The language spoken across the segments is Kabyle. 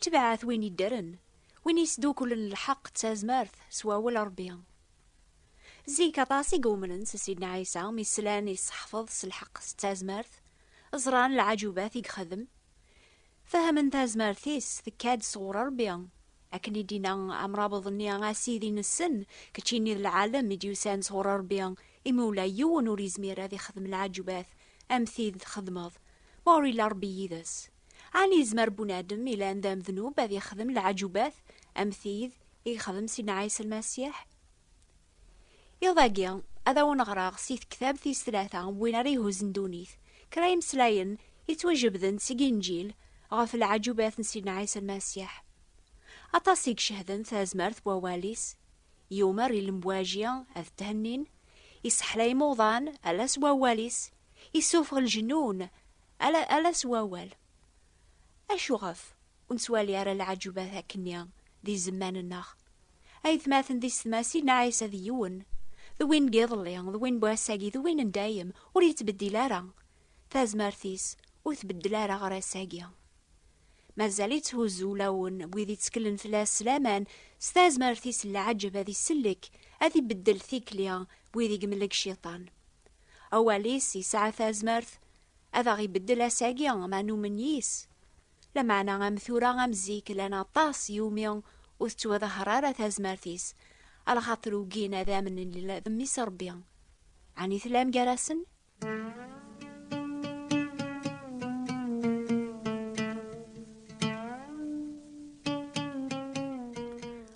Tebɛat win iddren, win yesdukulen lḥeq d tazmert s wawel n Rebbi. Zik aṭas i iumnen s Sidna Ɛisa mi slan i ṣeḥfeḍ s lḥeq s tazmert, ẓran lɛaǧubat i ixdem, fehmen tazmert-is tekka-d sɣur Rebbi, akken i d-inna amrabeḍ-nni, A Sidi nessen, keččini d lɛalem i d-yusan sɣur Rebbi, imi ula yiwen ur yezmir ad ixdem lɛaǧubat am tid txedmeḍ, ma ur illa Rebbi yid-s. Ɛni yezmer bunadem ilan d amednub ad yexdem leɛǧubat am tid i yexdem Sidna Ɛisa Lmasiḥ? Iḍ-agi, ad awen-ɣreɣ si tektabt tis tlata n win ara ihuzzen ddunit, kra imeslayen yettwajebden seg Inǧil ɣef leɛǧubat n Sidna Ɛisa Lmasiḥ. Aṭas i icehden tazmert n wawal-is, yumer i lemwaji ad thennin, isseḥlay imuḍan ala s wawal-is, issufeɣ lejnun Ala, ala s wawal. Acuɣef ur nettwali ara lɛaǧubat akkenni di zzman-nneɣ? Aytmaten d ysetmasin, Ɛisa d yiwen, d win n yiḍelli, d win n wass-agi, d win n dayem, ur yettbeddil ara. Tazmert-is ur tbeddel ara ɣer ass-agi. Mazal yetthuzzu ulawen n wid yetteklen fell-as s laman, s tazmert-is n lɛaǧeb ad isellek, ad ibeddel tikli n wid i yemlek Cciṭan. Awal-is yesɛa tazmert ad aɣ-ibeddel ass-agi ma numen yis. Lameɛna am tura am zik llan aṭas iwumi ur tettwaḍahar ara tazmert-is, a lxaṭer ugin ad amnen Lila d Mmi-s Rebbi. Ɛni tlam gar-asen?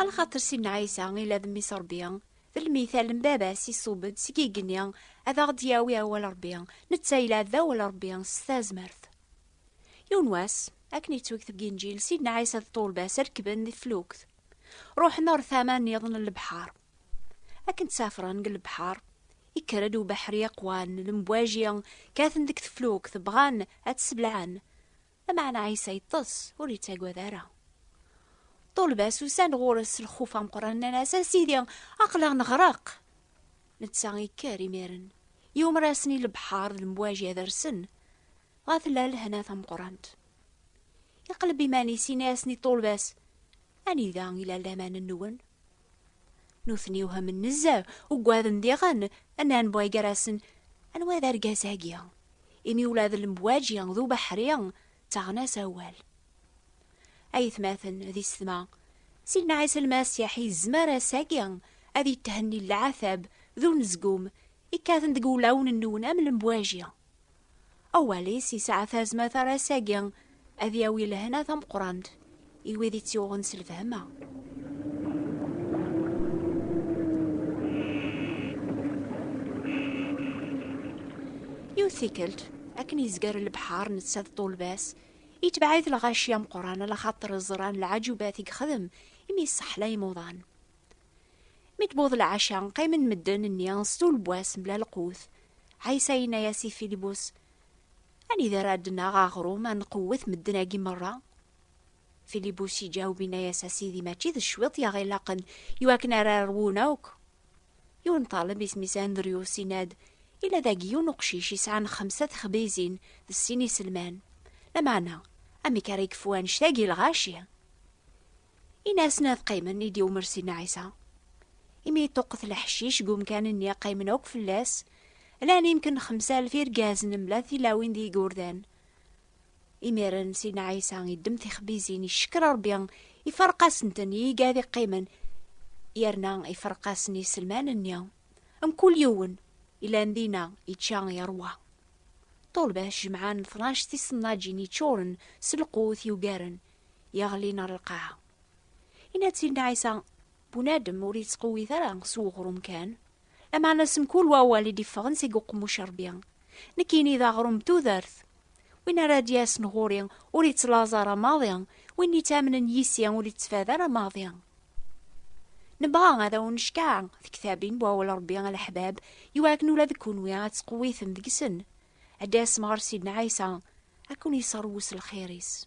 A lxaṭer Sidna Ɛisa, Ila d Mmi-s Rebbi, D lmital n baba-s iṣubb-d seg igenni ad aɣ-d-yawi awal Rebbi, netta yella d awal Rebbi s tazmert. Yiwen wass, akken yettweg deg Inǧil, Sidna Ɛisa d ṭṭulba-s rekkben di tflukt, ruḥen ɣer tama nniḍen n lebḥer. Akken ttafren deg lebḥer, yekker-d ubeḥri aqwan, lemwaji kkaten deg teflukt, bɣan ad tt-sebleɛen, Lameɛna Ɛisa yeṭṭes, ur yettagad ara. Ṭṭulba-s usan ɣur-s s lxuf ameqqran, nnan-as, A Sidi, aql-aɣ neɣreq! Netta yekker imiren, yumer-asen i lebḥer d lemwaǧi ad rsen, dɣa tella lehna tameqqrant. Iqleb iman-is, yenna-asen i ṭṭulba-s, Anida i la laman-nwen? Nutni whamen nezzeh, ugaden diɣen, nnan bɣi gar-asen, anwa d argaz-agi? Imi ula d lembwaǧi d ubeḥri ttaɣen-as awal. Ayetmaten d isetma, Sidna Ɛisa Lmasiḥ yezmer ass-agi ad yethenni leɛtab d unezgum ikkaten deg wulawen-nwen am lembwaji. Awal-is yesɛa tazmert ar ass-agi ad yawi lehna tameqqrant i wid i tt-yuɣen s lfehma. Yiwet tikkelt, akken yezger lebḥer netta d ṭulba-s, yetbeɛ-it lɣaci ameqqran ala xaṭer ẓran lɛajubat i yexdem imi yesseḥlay imuḍan. Mi d-wweḍ lɛaca, qqimen medden-nni stul n wass mebla lqut. Ɛisa yenna-as i Filibus, Anida ara d-naɣ aɣrum ad nqewwet medden-agi merra? Filibus iǧaweb yenna-as, A Sidi, mačči d cwiṭ i aɣ-ilaqen i wakken ara rwun akk. Yiwen ṭaleb isem-is Andryus yenna-d, Yella dagi yiwen uqcic yesɛan xemsa texbizin d sin iselman. Lameɛna, amek ara yekfu annect-agi lɣaci? Inasen ad qqimen i d-iwmer Sidna Ɛisa. Imi yeṭṭuqet leḥcic deg umkan-nni qqimen akk fell-as, llan imken xemsa alef irgazen mebla tilawin d yigurdan. Imiren Sidna Ɛisa iddem tixbizin, icekker Rebbi, iferq-asenten i yigad iqqimen, yerna iferq-asen iselman-nni. Mkul yiwen ilan dina ičča yerwa. Ṭulba tjemɛen tnac tisennaǧin iččuren s lqut yugaren yeɣlin ar lqaɛa. Yenna-tt Sidna Ɛisa, Bunadem ur yettqewwit ara s uɣrum kan, lameɛna s mkul wawal i d-iffɣen seg uqemmuc n Rebbi. Nekkini d aɣrum n tudert. Win ara d-yasen ɣur-i ur yettlaẓ ara maḍi, win yettamnen yis-i ur yettfad ara maḍi. Nebɣa ad awen-neckeɛ tektabin n wawal n Rebbi a leḥbab, i wakken ula d kunwi ad tettqewwitem deg-sen, ad d-tasem ɣer Sidna Ɛisa, ad ken-yesserwes lxir-is.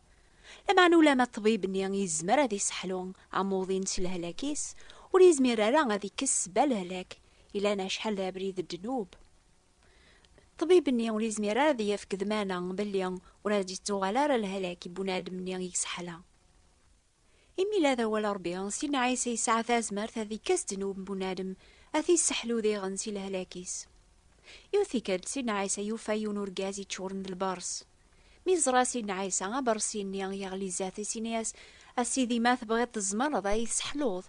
Lameɛna ulamma ṭṭbib-nni yezmer ad iseḥlu amuḍin s lehlak-is, ur yezmir ara ad ikkes ssba lehlak, ilan acḥal d abrid n ddnub. Ṭṭbib-nni ur yezmir ara ad yefk ddmana belli ur ad d-yettuɣal ara lehlak i bunadem-nni i yesseḥla. Imi la d awal n Ṛebbi, Sidna Ɛisa yesɛa tazmert ad ikes ddnub n bunadem, ad t-isseḥlu diɣen si lehlak-is. Yiwet tikkelt, Sidna Ɛisa yufa yiwen urgaz yeččuren d lbeṛs. Mi yeẓra Sidna Ɛisa abeṛsi-nni, yeɣli zdat-is, yenna-as, A Sidi, ma tebɣiḍ tzemreḍ ad iyi-tesseḥluḍ,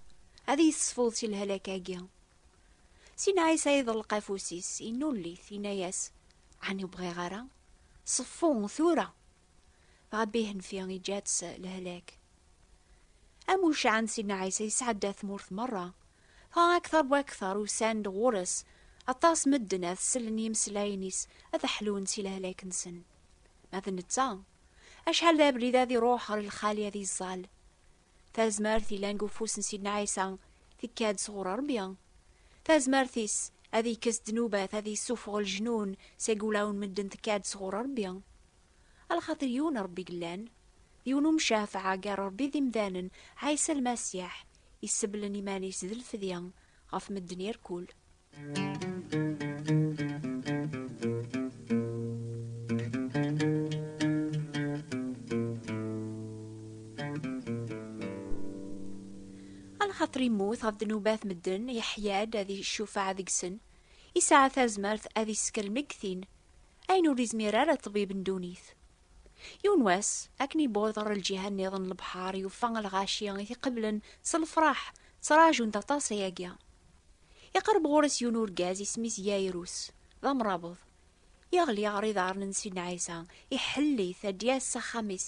ad iyi-tesfuḍ si lehlak-agi. Sidna Ɛisa iḍelleq afus-is, yennulli-t, yenna-as, Ɛni ur bɣiɣ ara? Ṣeffu tura! dɣa Bihenfi iǧǧa-tt lehlak. Am ucaɛen Sidna Ɛisa yesɛedda tmurt merra, dɣa akteṛ bu akteṛ usan-d ɣur-s aṭas medden ad sellen yimeslayen-is ad ḥlun si lehlak-nsen. Ma d netta, acḥal d abrid ad iṛuḥ ɣer lxali ad iẓẓal, Tazmert yellan deg ufus n Sidna Ɛisa tekka-d sɣur Rebbi. Tazmert-is ad yekkes ddnubat, ad yessufeɣ lejnun seg wulawen n medden tekka-d sɣur Rebbi. A lxatir yiwen Rebbi i yellan, d yiwen umcafeɛ gar Rebbi d imdanen, Ɛisa Lmasiḥ, iseblen iman-is d lfedya ɣef medden irkul. axaṭer immut ɣef ddnubat medden yeḥya-d ad icufaɛ deg-sen isɛa tazmert ad iskel megtin ayen ur izmir ara ṭbib n dunit yiwen wass akken ibuḍ ɣer lǧiha nniḍen lebḥar yufa lɣaci i t-iqeblen s lefraḥ ttrajunt aṭas ayagi Iqerreb ɣur-s yiwen urgaz isem-is Yayrus, d amrabeḍ. Yeɣli ɣer iḍarren n Sidna Ɛisa, iḥell-it ad d-yas s axxam-is,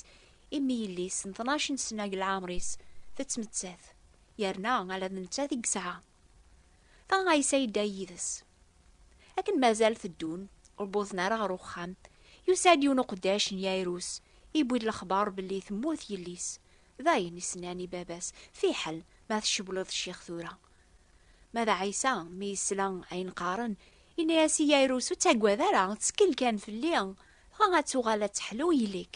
imi yelli-s n tnac n ssna deg leɛmer-is tettmettat, yerna ala d nettat i yesɛa. Dɣa Ɛisa yedda yid-s. Akken mazal teddun, ur wwḍen ara ɣer uxxam, yusa-d yiwen uqeddac n Yayrus, yewwi-d lexbar belli temmut yelli-s. Dayen i s-nnan i baba-s, Fiḥel ma tcewwleḍ ccix tura, Ma d Ɛisa, mi yesla ayen qqaren, yenna-as i Yayrus, Ur ttaggad ara, ttkel kan fell-i, dɣa ad tuɣal ad teḥlu yelli-k.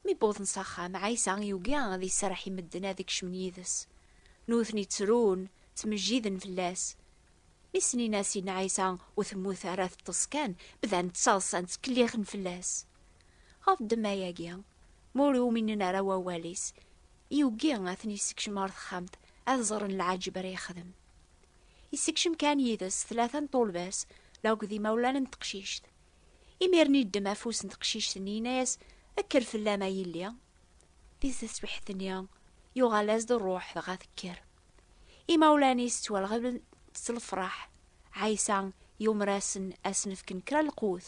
Mi wwḍen s axxam, Ɛisa yugi ad iserreḥ i medden ad kecmen yid-s. Nutni ttrun, ttmejjiden fell-as. Mi snin-as yenna Ɛisa, Ur temmut ara, teṭṭes kan. Bdan ttaḍsan, ttkellixen fell-as. Ɣef ddemma-agi, ma ur uminen ara wawal-is, yugi ad ten-yessekcem ɣer texxamt, ad ẓren lɛaǧeb ara yexdem. Yessekcem kan yid-s tlata n ṭulbas la akked imawlan n teqcict. Imiren yeddem afus n teqcict-nni yenna-as kker fell-am a yelli. Di teswiḥt-nni yuɣal-as-d rruḥ dɣa tekker. Imawlan-is ttwalɣeblen s lefraḥ. Ɛisa yumer-asen ad sen-fken kra lqut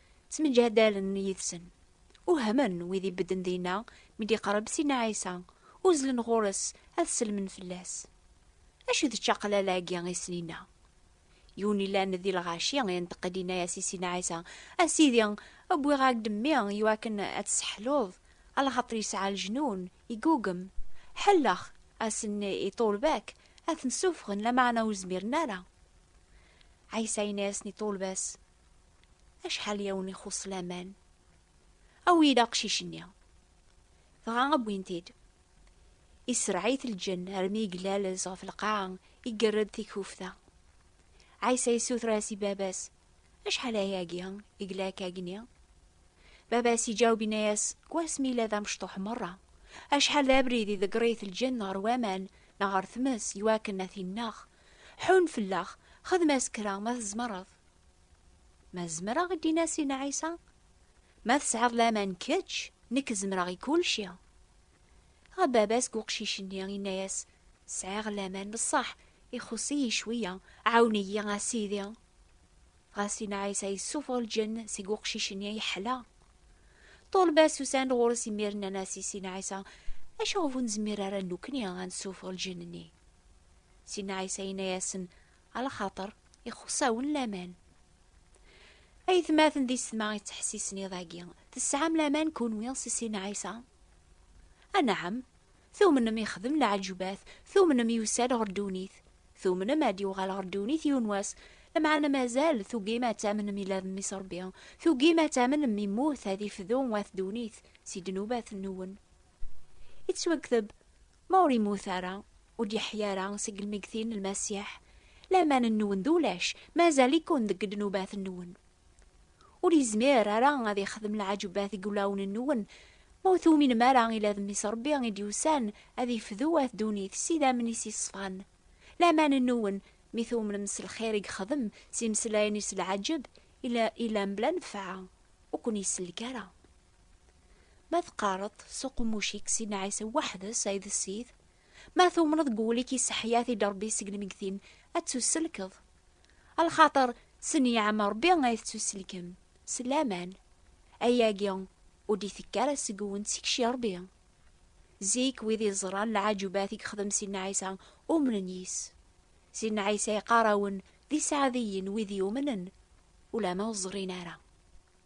Ttemǧadalen yid-sen. Uhmen wid ibedden dinna mi d-iqreb Sidna Ɛisa, uzzlen ɣur-s ad sellmen fell-as. Acu d ččaqlala-agi i sen-inna? Yiwen yellan di lɣaci inṭeq-d inna-as i Sidna Ɛisa, A Sidi, wwiɣ-ak-d mmi iwakken ad t-sseḥluḍ, alaxaṭer yesɛa leǧnun, igugem. Ḥelleɣ asen i ṭṭulba-k ad ten-ssuffɣen lameɛna ur zmiren ara. Ɛisa yenna-yasen i ṭṭulba-s, Acḥal i awen-ixuṣṣ laman? Awi-d aqcic-nni. Dɣa wwin-t-id. Iserreɛ-it lǧenn armi yeglalez ɣef lqaɛa, igerred tikufta. Ɛisa yessuter-as i baba-s, Acḥal ayagi i yella akkagni? Baba-s iǧaweb inna-yas, Deg wasmi yella d amecṭuḥ merra, acḥal d abrid i ḍegger-it lǧenn ɣer waman neɣ ɣer tmes iwakken ad t-inneɣ. Ḥunn fell-aɣ, xdem-as kra ma tzemreḍ. Ma zemreɣ i d-inas i Nɛisa, ma tesɛiḍ laman kečč, nekk zemreɣ i kulci. Ɣa baba-s deg uqcic-nni inna-yas, sɛiɣ laman bessaḥ, ixuṣ-iyi cwiya, ɛawen-iyi a sidi. Ɣas i Nɛisa yessufeɣ lǧenn seg uqcic-nni yeḥla. Ṭulba-s usan-d ɣur-s imir nnan-as i si Nɛisa, acu ɣef ur nezmir ara nukni a nessufeɣ lǧenn-nni? Si Nɛisa inna-yasen, Ala xaṭer, ixuṣ-awen laman. Aytmaten di setma ittḥessisen iḍ-agi, tesɛam laman kunwi s sin Ɛisa? Anɛam, tumnem ixdem lɛeǧbat, tumnem yusa-d ɣer ddunit, tumnem ad d-yuɣal ɣer ddunit yiwen wass, lameɛna mazal tugim ad tamnem ila d Mmi-s Ṛebbi, tugim ad tamnem immut ad ifdu at ddunit si ddnubat-nwen. Ittwakteb, Ma ur immut ara, ur d-yeḥya ara seg lmeggtin n Lmasiḥ, laman-nwen d ulac, mazal-iken deg ddnubat-nwen. Ur yezmir ara ad ixdem lɛaǧebat deg wulawen-nwen, ma ur tuminem ara ila d Mmi-s Rebbi i d-yusan ad ifdu at ddunit s idammen-is yeṣfan. Laman-nwen, mi tumnem s lxir i yexdem, s imeslayen-is lɛaǧeb, ila mebla nnfeɛ, ur ken-isellek ara. Ma teqqareḍ s uqemmuc-ik Sidna Ɛisa weḥd-s ay d Ssid, ma tumneḍ deg wul-ik yesseḥya-t-id Rebbi seg lmeggtin, ad tusselkeḍ. A lxaṭer s nniɛam Rebbi ay tettusselkem, s laman. Ayagi ur d-itekki ara seg-wen, seg-k Rebbi. Zik, wid iẓran lɛajubat i yexdem Sidna Ɛisa, umnen yis. Sidna Ɛisa yeqqar-awen d iseɛdiyen wid yumnen, ulamma ur ẓrin ara.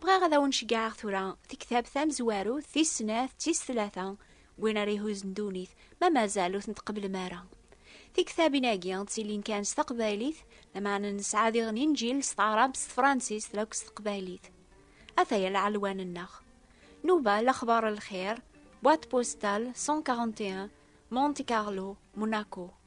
Bɣiɣ ad awen-ceggɛeɣ tura tiktabt tamezwarut tis snat tis tlata win ara ihuzen dunit ma mazal ur ten-tqeblem ara. Tiktabin-agi ttilin kan s taqbaylit lameɛna nesɛa diɣen inǧil s taɛrabt s tefransist lakk s teqbaylit. Ataya lɛelwan-nneɣ. Nuba lexbar lxir, boîte postale 141, Monte Carlo, Monaco.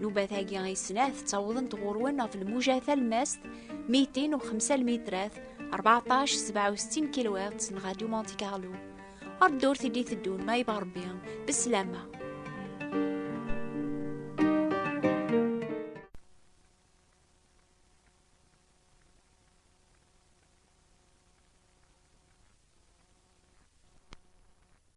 Nubat-agi ay snat ttawḍent ɣur-wen ɣef lmuja talmast 205 lmitrat 1467 kilowat n Radio Monte Carlo. Ar ddurt i d-iteddun ma yebɣa Rebbi, beslama.